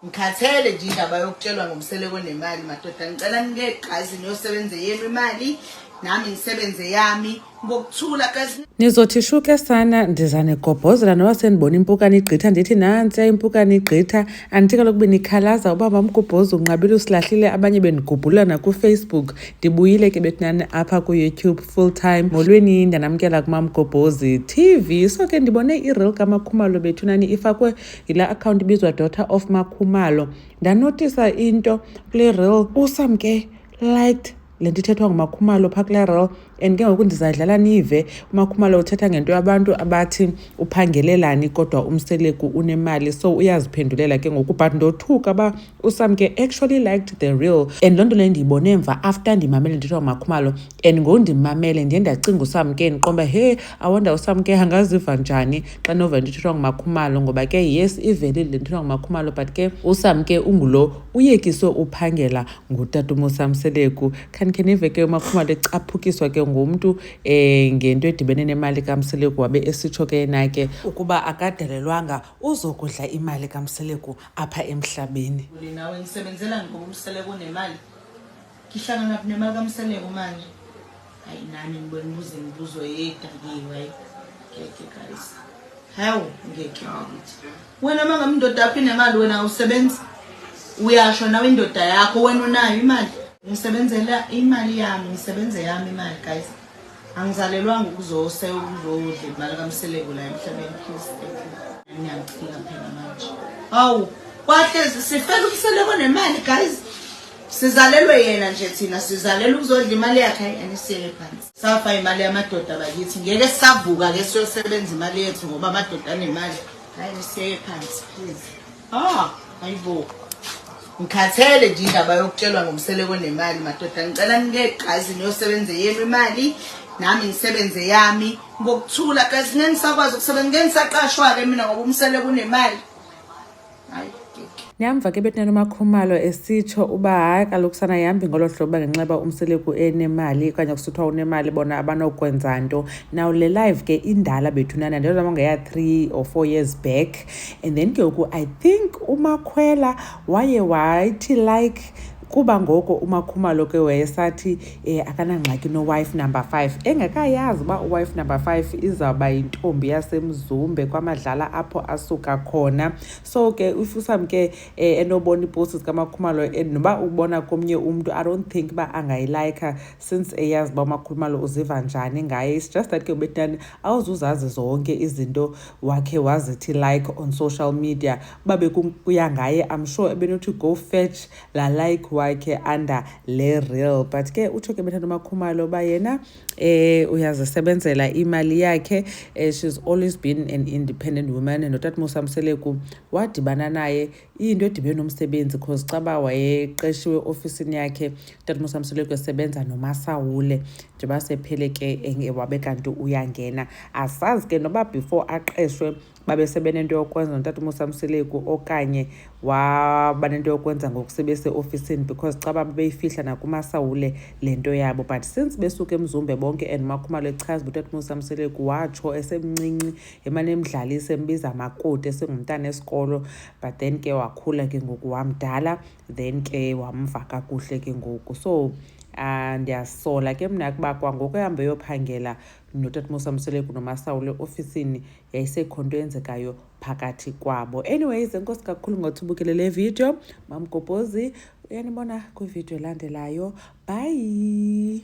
ngikhathele nje indaba yokutshelwa ngomseleko nemali madoda ngicela ningegqazi niyosebenze yenu imali nami ngisebenze yami ngokuthula nizothi shuke sana ndiza negobhozela noba sendibona impukane igqitha ndithi nantsiya impukane igqitha andithi kaloku benikhalaza uba mamgubhozi unqabile usilahlile abanye bendigubhulana kufacebook ndibuyile ke betinani apha kuyoutube full time molweni ndanamkela kumamgobhozi tv so ke ndibone ireal kamakhumalo bethunani ifakwe yila akhawunti ibizwa daughter of makhumalo ndanotisa into kule rel usam ke liked le nto ithethwa ngumakhumalo phaa kule rel and ke ngoku ndizadlala nive umakhumalo uthetha ngento yabantu abathi uphangelelani kodwa umseleku unemali so uyaziphendulela ke ngoku but ndothuka uba usam ke actually liked the real and loo nto leyo ndiyibone mva after ndimamele ndithiwa makhumalo and ngondimamele ndiye ndacinga usam ke ndiqomba he awonda usam ke angaziva njani xa nova ndithethwa ngumakhumalo ngoba ke yes ivelile ndithethwa ngumakhumalo but ke usam ke ungulo uyekiswe uphangela ngutata umosamseleku khanikhe nive ke umakhumalo ecaphukiswa ke ngumntu um eh, ngento edibene nemali kamseleku wabe esitsho ke yena ke ukuba akadelelwanga uzokudla imali kamseleku apha emhlabeni nawe ngisebenzela ngoba umseleko unemali ngihlangana nemali kamseleko manje hayi nami ngibona imibuzo imibuzo edakiwe ngeke guys hawu ngeke bakithi wena uma ngami indoda yakho inemali wena awusebenzi uyasho nawe indoda yakho wena unayo imali ngisebenzela imali yami ngisebenze yami imali guys angizalelwanga ukuzose ukuzodla imali kamseleku la emhlabeni please thank you ngiyaphila phela manje hawu kwahle sifela umseleko nemali guys sizalelwe yena nje thina sizalelwe ukuzodla imali yakhe hayi anisiyele phansi safa imali yamadoda bakithi ngeke savuka ke siyosebenza imali yethu ngoba amadoda anemali hayi nisiyele phansi please Ah, ayibo. Ngikhathele nje indaba yokutshelwa ngomseleko nemali madoda. Ngicela ningegqazi niyosebenze yenu imali nami ngisebenze yami ngokuthula guys ngeke ngisakwazi ukusebenza ngeke ngisaqashwa ke mina ngoba umseleko unemali. Hayi. Niyamva ke bethi nanomakhumalo esitsho uba hayi kaloku sana yihambi ngolo hlobo uba ngenxeba umseleku enemali okanye kusithiwa unemali bona abanokwenza nto now le live ke indala bethunana ndiyozama ngeya-three or four years back and then ke ngoku i think umakhwela waye wathi like kuba ngoko umakhumalo ke wayesathi um akanangxaki nowife number five engekayazi uba uwife number five izawuba yintombi yasemzumbe kwamadlala apho asuka khona so ke if usamke um eh, enobona iiposti zikamakhumalo and noba ubona komnye umntu i don't think uba angayilayikha since eyazi uba umakhumalo uziva njani ngaye it's just that ke ubetani awuzuzazi zonke izinto wakhe wazithi like on social media uba bekuya ngaye i'm sure ebenothi go fetch la like wakhe under le real but ke utsho ke bethanda umakhumalo uba yena eh uyazisebenzela imali yakhe eh, she's always been an independent woman notatmusa mseleku wadibana naye iyinto edibene nomsebenzi cause xa uba wayeqeshiwe ofisini yakhe utatumusamsoleko esebenza nomasawule njengoba sephele ke wabe kanti uyangena asazi ke noba before aqeshwe babe sebenento yokwenza notatumusamsoleko okanye waba nento yokwenza ngoku sebeseofisini because xa babe beyifihla nakumasawule le nto yabo but since besuke emzumbe bonke and umakhumalo echaza uba utatumusamsoleko watsho esemncinci emane emdlalisa embiza makoti esingumntana esikolo but then ke wakhula ke ngoku wamdala then ke wamva kakuhle ke ngoku so um ndiyasola ke mna kuba kwangoku ehambe eyophangela notatmusa mseleku nomasawule ofisini yayisekho nto eyenzekayo phakathi kwabo anyways enkosi kakhulu ngothi ubukele le video mamgobozi uyanibona kwividiyo elandelayo bhayi